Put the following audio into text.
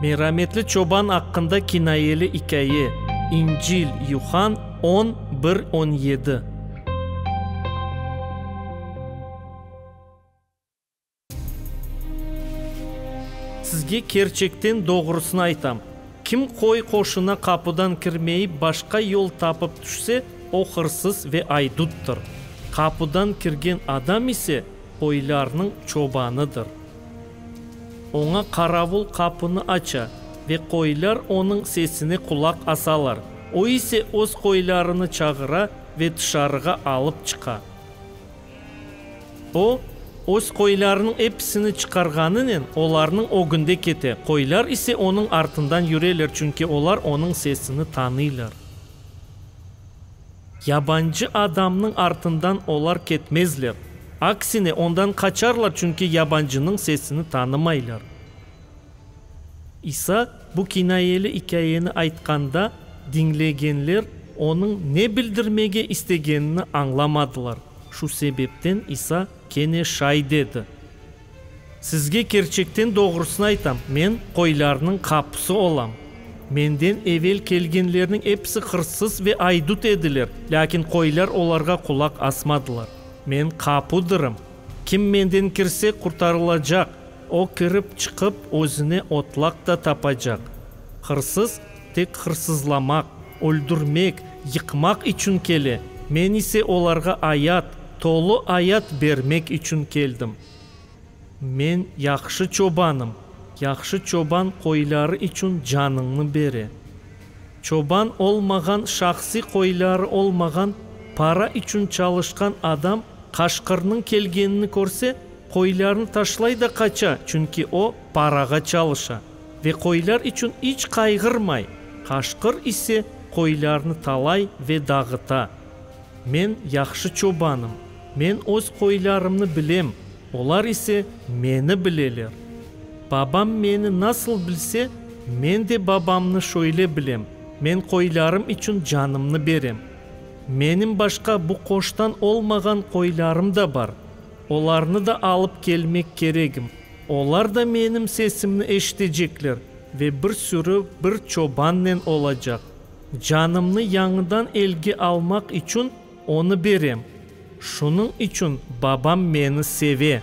Merametli çoban aqqında kinayeli ikâye, İncil, Yuhann on bir, on yedi. Sizge kerçekten doğrusını aytam, kim qoy qoşuna qapudan kirmeyip başqa yol tapıp tüşse, o hırsız ve aydüttür. Qapudan kirgen adam ise Qoylarnıñ çobanıdır. Oña qaravul qapını aça ve qoylar onıñ sesine qulaq asalar. O ise öz qoylarını çağıra ve tışarığa alıp çıqa. O, öz qoylarınıñ episini çıqarğanınen, olarnıñ ögünde kete, qoylar ise onıñ artından yüreler, çünki olar onıñ sesini tanıylar. Yabancı adamnıñ artından olar ketmezler, aksine, ondan qaçarlar, çünki yabancınıñ sesini tanımaylar. İsa bu kinayeli ikâyeni aytqanda, diñlegenler onıñ ne bildirmege istegenini añlamadılar. Şu sebepten İsa kene şay dedi. Sizge kerçekten doğrusını aytam, men qoylarnıñ qapusı olam. Menden evel kelgenlerniñ episi hırsız ve aydut ediler, lâkin qoylar olarğa qulaq asmadılar. Men qapudırım. Kim menden kirse, qurtarılacaq, o kirip, çıqıp, özüne otlaq da tapacaq. Hırsız, tek hırsızlamaq. Öldürmek, yıqmaq içün kele, men ise olarğa ayat, tolu ayat bermek içün keldim. Men yahşı çobanım, yahşı çoban qoyları içün canıñnı bere. Çoban olmağan, şahsiy qoyları olmağan, para içün çalışqan adam qaşqırnıñ kelgenini körse, qoylarını taşlay da qaça, çünki o, parağa çalışa. Ve qoylar içün iç qayğırmay, qaşqır ise qoylarnı talay ve dağıta. Men yahşı çobanım, men öz qoylarımnı bilem, olar ise meni bileler. Babam meni nasıl bilse, men de Babamnı şöyle bilem, men qoylarım içün canımnı berem. Menim başqa bu qoştan olmağan qoylarım da bar, olarnı da alıp kelmek keregim. Olar da menim sesimni eşitecekler ve bir sürü bir çobannen olacaq. Canımnı yañıdan elge almaq içün onı berem. Şunıñ içün Babam meni seve.